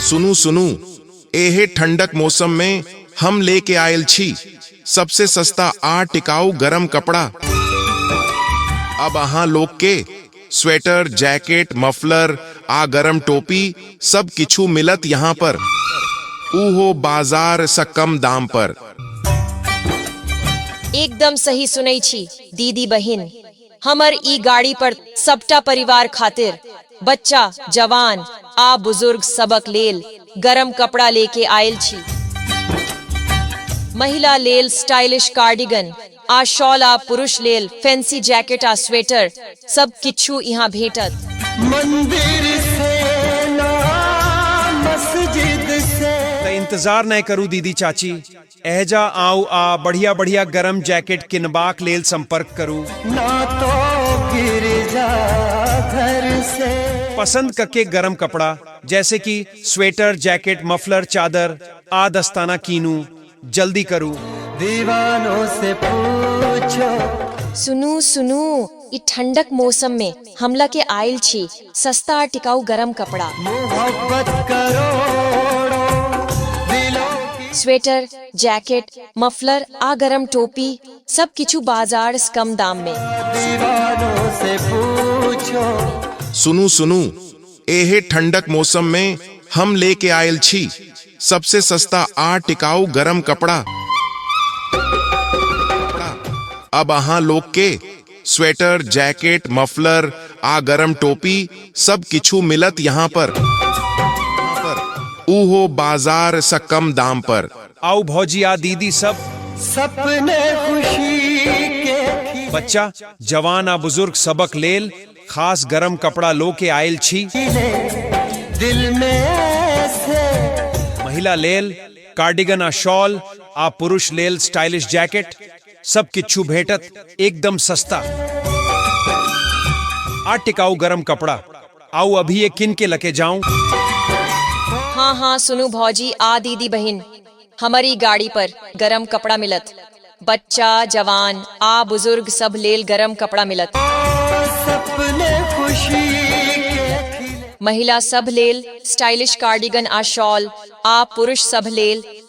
सुनू सुनू एहे ठंडक मौसम में हम लेके आयल छी सबसे सस्ता आ टिकाऊ गरम कपड़ा अब अहाँ लोग के स्वेटर जैकेट मफलर आ गरम टोपी सब किछु मिलत यहाँ पर उहो बाजार से कम दाम पर एकदम सही सुनै छी दीदी बहिन हमर ई गाड़ी पर सबटा परिवार खातिर, बच्चा, जवान आ बुजुर्ग सभक लेल गरम कपड़ा ले के आएल छी। महिला लेल स्टाइलिश कार्डिगन आ शॉल आ पुरुष लेल फैंसी जैकेट आ स्वेटर, सब किछु इहाँ भेंटत। मंदिर से ना मस्जिद से त इंतजार नए करू दीदी चाची। एहजा आउ आ बढ़िया बढ़िया गरम जैकेट किनबाक लेल संपर्क करू ना तो गिर जा घर से पसंद कके गरम कपड़ा जैसे कि स्वेटर जैकेट मफलर चादर आ दस्ताना कीनू जल्दी करू दीवानों से पूछो सुनू सुनू ई ठंडक मौसम में हम लके आइल छी सस्ता आ टिकाऊ गरम कपड़ा मोहब्बत करोड़ो दिलों की स्वेटर जैकेट मफलर आ गरम टोपी सब किछु बाजार से कम दाम में दीवानों से पूछो सुनू सुनू एहे ठंडक मौसम में हम लेके आयल छी सबसे सस्ता आ टिकाऊ गरम कपड़ा अब अहाँ लोग के स्वेटर जैकेट मफलर आ गरम टोपी सब किछु मिलत यहाँ पर उहो बाजार से कम दाम पर आउ भौजी आ दीदी सब सपने खुशी के बच्चा जवान आ बुजुर्ग सबक लेल खास गरम कपड़ा लो के आयल छी खिले दिल में ऐसे महिला लेल कार्डिगन आ शॉल आ पुरुष लेल स्टाइलिश जैकेट सब किच्छु भेटत एकदम सस्ता आ टिकाऊ गरम कपड़ा आउ अभी ये किन के लके जाऊं हाँ हाँ सुनू भौजी आ दीदी बहिन हमारी गाड़ी पर गरम कपड़ा मिलत बच्चा जवान आ बुजुर्ग सब लेल गरम कपड़ा मिलत सपने खुशी के महिला सब लेल स्टाइलिश कार्डिगन आ शॉल आ पुरुष सब लेल